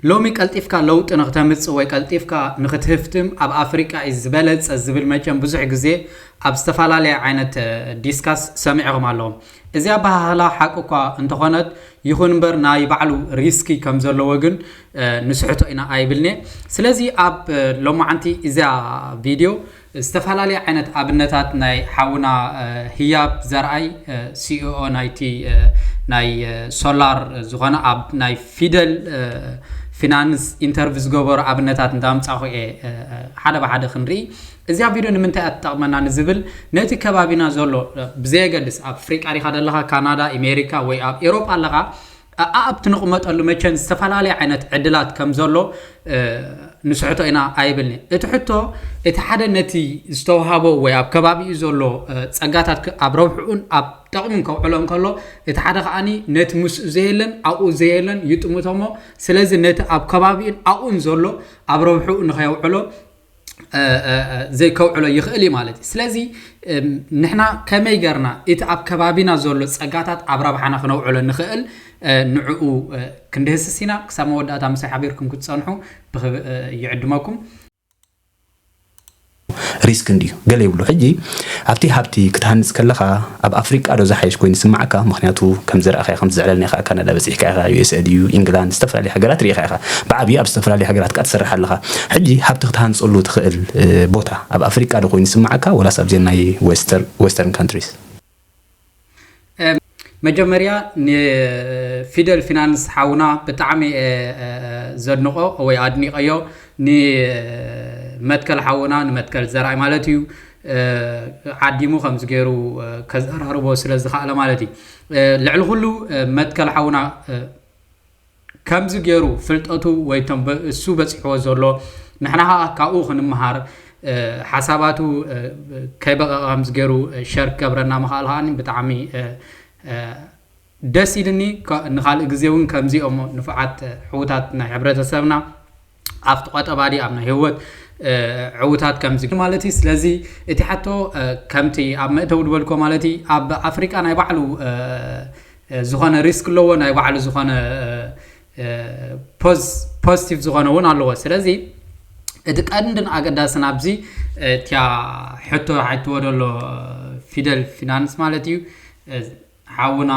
ሎሚ ቀልጢፍካ ለውጢ ንክተምጽእ ወይ ቀልጢፍካ ንክትህፍትም ኣብ ኣፍሪቃ እዩ ዝበለጸ ዝብል መቸም ብዙሕ ግዜ ኣብ ዝተፈላለየ ዓይነት ዲስካስ ሰሚዕኹም ኣለኹም። እዚ ኣበሃህላ ሓቂ እኳ እንተኾነት ይኹን እምበር ናይ ባዕሉ ሪስኪ ከም ዘለዎ ግን ንስሕቶ ኢና ኣይብልንየ። ስለዚ ኣብ ሎማዓንቲ እዛ ቪድዮ ዝተፈላለየ ዓይነት ኣብነታት ናይ ሓውና ህያብ ዘርኣይ ሲኢኦ ናይቲ ናይ ሶላር ዝኾነ ኣብ ናይ ፊደል ፊናንስ ኢንተርቪ ዝገበሩ ኣብነታት እንዳምጻኹ እየ ሓደ ብሓደ ክንርኢ እዚኣ ቪድዮ ንምንታይ እያ ትጠቕመና ንዝብል ነቲ ከባቢና ዘሎ ብዘየገድስ ኣብ ኣፍሪቃ ዲኻ ዘለኻ ካናዳ ኣሜሪካ ወይ ኣብ ኤሮጳ ኣለኻ ኣኣብቲ ንቕመጠሉ መቸን ዝተፈላለየ ዓይነት ዕድላት ከም ዘሎ ንስሕቶ ኢና ኣይብልኒ። እቲ ሕቶ እቲ ሓደ ነቲ ዝተውሃቦ ወይ ኣብ ከባቢኡ ዘሎ ጸጋታት ኣብ ረብሕኡን ኣብ ጠቕሙን ከውዕሎ እንከሎ እቲ ሓደ ከኣኒ ነቲ ምስኡ ዘየለን ኣብኡ ዘየለን ይጥምቶሞ ስለዚ ነቲ ኣብ ከባቢኡን ኣብኡን ዘሎ ኣብ ረብሕኡ ንኸየውዕሎ ዘይከውዕሎ ይኽእል እዩ ማለት እዩ ስለዚ ንሕና ከመይ ገርና እቲ ኣብ ከባቢና ዘሎ ጸጋታት ኣብ ረብሓና ክነውዕሎ ንኽእል ንዕኡ ክንድህስስ ኢና ክሳብ መወዳእታ ምሳይ ሓቢርኩም ክትጸንሑ ይዕድመኩም ሪስክ እንድዩ ገለ ይብሉ ሕጂ ኣብቲ ሃብቲ ክትሃንጽ ከለኻ ኣብ ኣፍሪቃ ዶ ዝሓይሽ ኮይኑ ዝስማዓካ ምኽንያቱ ከም ዝራኣኻዮ ከም ትዝዕለል ኔኻ ኣብ ካናዳ በጺሕካ ኢኻ USA ድዩ ኢንግላንድ ዝተፈላለየ ሃገራት ሪኢኻ ኢኻ ብዓብዩ ኣብ ዝተፈላለየ ሃገራት ካኣ ትሰርሕ ኣለኻ ሕጂ ሃብቲ ክትሃንጸሉ ትኽእል ቦታ ኣብ ኣፍሪቃ ዶ ኮይኑ ዝስማዓካ ወላስ ኣብዘን ናይ Western Countries። መጀመርያ ንፊደል ፊናንስ ሓውና ብጣዕሚ እየ ዘድንቆ ወይ ኣድኒቀዮ ንመትከል ሓውና ንመትከል ዘርኣይ ማለት እዩ ዓዲሙ ከምዚ ገይሩ ከዘራርቦ ስለ ዝኸኣለ ማለት እዩ ልዕሊ ኩሉ መትከል ሓውና ከምዚ ገይሩ ፍልጠቱ ወይ ቶም እሱ በፂሕዎ ዘሎ ንሕና ከዓ ካብኡ ክንምሃር ሓሳባቱ ከይበቐቐ ከምዚ ገይሩ ሸር ክገብረና ምኽኣል ከዓ ብጣዕሚ ደስ ኢልኒ ንካልእ ግዜ እውን ከምዚኦም ንፉዓት ሕውታት ናይ ሕብረተሰብና ኣብቲ ቆጠባ ድዩ ኣብ ናይ ህወት ዕውታት ከምዚ ማለት ስለዚ እቲ ሓቶ ከምቲ ኣብ መእተዊ ድበልኮ ማለት ኣብ ኣፍሪቃ ናይ ባዕሉ ዝኾነ ሪስክ ኣለዎ ናይ ባዕሉ ዝኾነ ፖዚቲቭ ዝኾነ እውን ኣለዎ ስለዚ እቲ ቀንድን ኣገዳስን ኣብዚ እቲያ ሕቶ ሓትዎ ደሎ ፊደል ፊናንስ ማለት እዩ ሓውና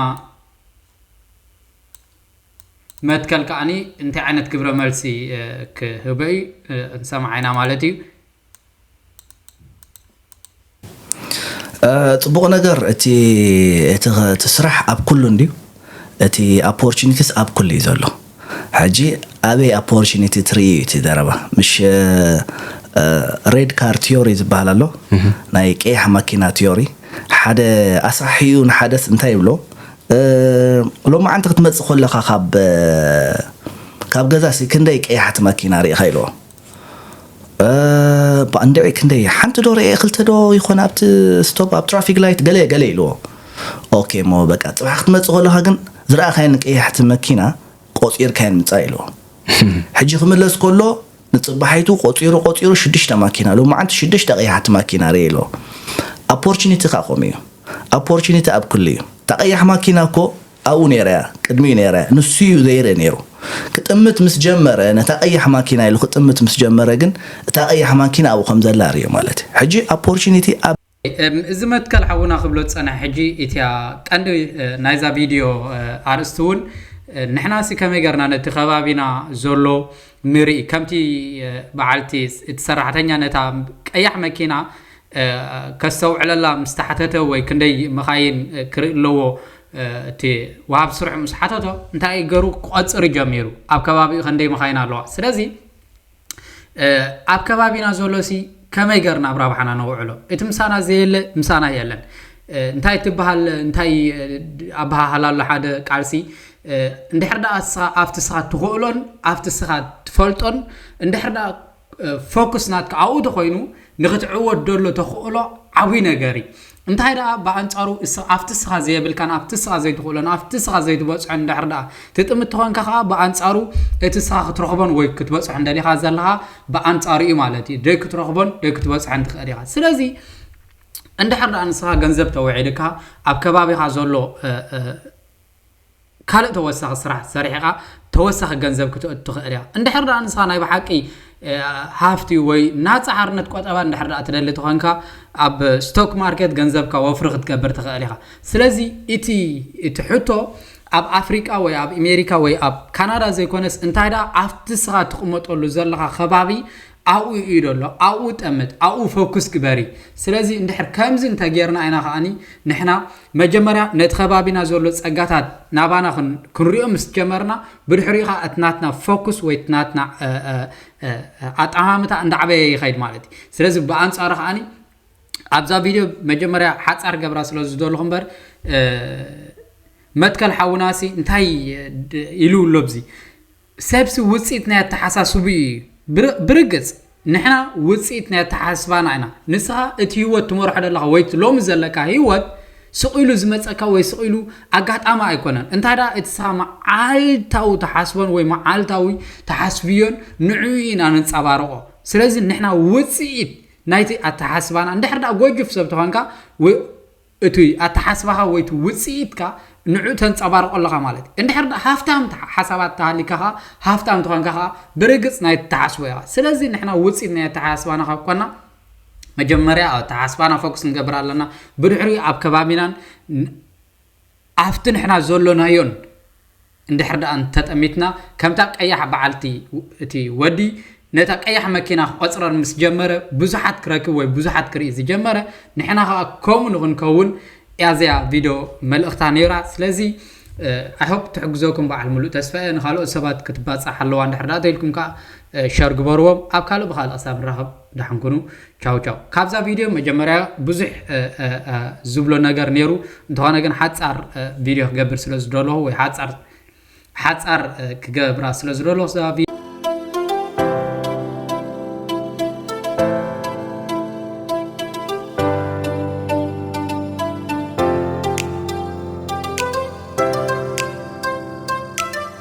መትከል ከኣ እንታይ ዓይነት ግብረ መልሲ ክህበ እዩ ክንሰምዓ ኢና ማለት እዩ። ጽቡቅ ነገር እቲ እቲ ስራሕ ኣብ ኩሉ እንድዩ እቲ ኣፖርቹኒቲስ ኣብ ኩሉ እዩ ዘሎ ሕጂ ኣበይ ኣፖርቹኒቲ ትርኢ እዩ እቲ ዘረባ ምሽ ሬድ ካር ቲዮሪ ዝበሃል ኣሎ ናይ ቀያሕ ማኪና ቲዮሪ ሓደ ኣስራሒኡ ንሓደስ እንታይ ይብሎ ሎማዓንቲ ክትመጽእ ኮለኻ ካብ ካብ ገዛ ሲ ክንደይ ቀያሕቲ መኪና ርኢኻ ኢልዎ ባእ እንድዒ ክንደይ ሓንቲ ዶ ርኤ ክልተ ዶ ይኾን ኣብቲ ስቶፕ ኣብ ትራፊክ ላይት ገለ ገለ ኢልዎ ኦኬ እሞ በቃ ጽባሕ ክትመጽእ ከለኻ ግን ዝረኣኻየን ቀያሕቲ መኪና ቆጺርካየን ምጻእ ኢልዎ ሕጂ ክምለስ ከሎ ንጽባሒቱ ቆጺሩ ቆጺሩ ሽዱሽተ ማኪና ሎማዓንቲ ሽዱሽተ ቀያሕቲ ማኪና ሪኤ ኣሎ ኣፖርችኒቲ ከኣ ከምኡ እዩ ኣፖርችኒቲ ኣብ ኩሉ እዩ እታ ቀያሕ ማኪና እኮ ኣብኡ ነይራ እያ ቅድሚኡ ነይረ ንሱ እዩ ዘይርኢ ነይሩ ክጥምት ምስ ጀመረ ነታ ቀያሕ ማኪና ኢሉ ክጥምት ምስ ጀመረ ግን እታ ቀያሕ ማኪና ኣብኡ ከም ዘላ ሪኦ ማለት እዩ ሕጂ ኣፖርችኒቲ ኣብ እዚ መትከል ሓውና ክብሎ ዝጸንሐ ሕጂ ኢቲያ ቀንዲ ናይዛ ቪድዮ ኣርእስቲ ውን ንሕናሲ ከመይ ገርና ነቲ ከባቢና ዘሎ ንርኢ ከምቲ በዓልቲ እቲ ሰራሕተኛ ነታ ቀያሕ መኪና ከስተውዕለላ ምስ ተሓተተ ወይ ክንደይ መኻይን ክርኢ ኣለዎ እቲ ወሃብ ስርሑ ምስ ሓተቶ እንታይ ገሩ ክቆጽር ጀሚሩ ኣብ ከባቢኡ ክንደይ መኻይን ኣለዋ ስለዚ ኣብ ከባቢና ዘሎሲ ከመይ ገርና ኣብ ራብሓና ነውዕሎ እቲ ምሳና ዘየለ ምሳና የለን እንታይ ትበሃል እንታይ ኣበሃህላ ኣሎ ሓደ ቃልሲ እንድሕር ደኣ ስኻ ኣብቲ ስኻ ትኽእሎን ኣብቲ ስኻ ትፈልጦን እንድሕር ደኣ ፎክስ ናትካ ኣብኡ ተኮይኑ ንክትዕወት ደሎ ተኽእሎ ዓብይ ነገር እዩ እንታይ ደኣ ብኣንጻሩ እስ ኣብቲ እስኻ ዘየብልካን ኣብቲ እስኻ ዘይትኽእሎን ኣብቲ እስኻ ዘይትበጽሖን እንድሕር ደኣ ትጥምት ተኾንካ ከኣ ብኣንጻሩ እቲ እስኻ ክትረኽቦን ወይ ክትበጽሖን ደሊኻ ዘለኻ ብኣንጻሩ እዩ ማለት እዩ ደይ ክትረኽቦን ደይ ክትበጽሖን ትኽእል ኢኻ ስለዚ እንድሕር ደኣ ንስኻ ገንዘብ ተውዒልካ ኣብ ከባቢኻ ዘሎ ካልእ ተወሳኺ ስራሕ ሰሪሕኻ ተወሳኺ ገንዘብ ክተእቱ ትኽእል እያ። እንድሕር ደኣ ንስኻ ናይ ብሓቂ ሃፍቲ ወይ ናጻ ሓርነት ቆጠባ እንድሕር ደኣ ትደሊ ተኾንካ ኣብ ስቶክ ማርኬት ገንዘብካ ወፍሪ ክትገብር ትኽእል ኢኻ። ስለዚ እቲ እቲ ሕቶ ኣብ ኣፍሪቃ ወይ ኣብ ኣሜሪካ ወይ ኣብ ካናዳ ዘይኮነስ እንታይ ደኣ ኣብቲ ንስኻ ትቕመጠሉ ዘለኻ ከባቢ ኣብኡ እዩ ዘሎ ኣብኡ ጠምት ኣብኡ ፈኩስ ግበሪ ስለዚ እንድሕር ከምዚ እንተ ጌርና ኢና ከኣኒ ንሕና መጀመርያ ነቲ ከባቢና ዘሎ ጸጋታት ናባና ክንሪኦ ምስ ጀመርና ብድሕሪኡ ከኣ እቲ ናትና ፈኩስ ወይ እቲ ናትና ኣጠማምታ እንዳዕበየ ይኸይድ ማለት እዩ ስለዚ ብኣንጻሩ ከኣኒ ኣብዛ ቪድዮ መጀመርያ ሓጻር ገብራ ስለ ዝደለኹ እምበር መትከል ሓውናሲ እንታይ ኢሉ ኣሎ ብዚ ሰብሲ ውጽኢት ናይ ኣተሓሳስብኡ ኢዩ። ብርግጽ ንሕና ውጽኢት ናይ ኣተሓሳስባና ኢና። ንስኻ እቲ ህይወት ትመርሖ ዘለኻ ወይ እቲ ሎሚ ዘለካ ህይወት ስቕ ኢሉ ዝመጸካ ወይ ስቕ ኢሉ ኣጋጣሚ ኣይኮነን። እንታይ ደኣ እቲ ስኻ መዓልታዊ ትሓስቦን ወይ መዓልታዊ ትሓስብዮን ንዕኡ ኢና ነንጸባርቖ። ስለዚ ንሕና ውጽኢት ናይቲ ኣተሓሳስባና እንድሕር ደኣ ጎጁፍ ሰብ ተኾንካ እቲ ኣተሓስባኻ ወይ እቲ ውጽኢትካ ንዕኡ ተንጸባርቖ ኣለኻ ማለት እዩ። እንድሕር ድኣ ሃፍታም ሓሳባት ተሃሊካ ከኣ ሃፍታም ተኾንካ ከኣ ብርግጽ ናይ እትሓስቦ ኢኻ። ስለዚ ንሕና ውጽኢት ናይ ኣተሓሳስባና ካብ ኮና መጀመርያ ኣብ ኣተሓሳስባና ፎክስ ክንገብር ኣለና። ብድሕሪኡ ኣብ ከባቢናን ኣብቲ ንሕና ዘሎናዮን እንድሕር ደኣ እንተጠሚትና፣ ከምታ ቀያሕ በዓልቲ፣ እቲ ወዲ ነታ ቀያሕ መኪና ክቆጽረር ምስ ጀመረ፣ ብዙሓት ክረክብ ወይ ብዙሓት ክርኢ ዝጀመረ፣ ንሕና ከኣ ከምኡ ንኽንከውን እያ እዚኣ ቪዶ መልእኽታ ነይራ። ስለዚ I hope ትሕግዘኩም በዓል ምሉእ ተስፋ እየ። ንኻልኦት ሰባት ክትባጻሕ ኣለዋ እንድሕር ደኣ ተኢልኩም ከኣ ሸር ግበርዎም። ኣብ ካልእ ብኻልእ ክሳብ ንራኸብ። ደሓን ኩኑ ቻው ቻው። ካብዛ ቪድዮ መጀመርያ ብዙሕ ዝብሎ ነገር ነይሩ እንተኾነ ግን ሓጻር ቪድዮ ክገብር ስለ ዝደለኹ ወይ ሓጻር ሓጻር ክገብራ ስለ ዝደለኹ እዛ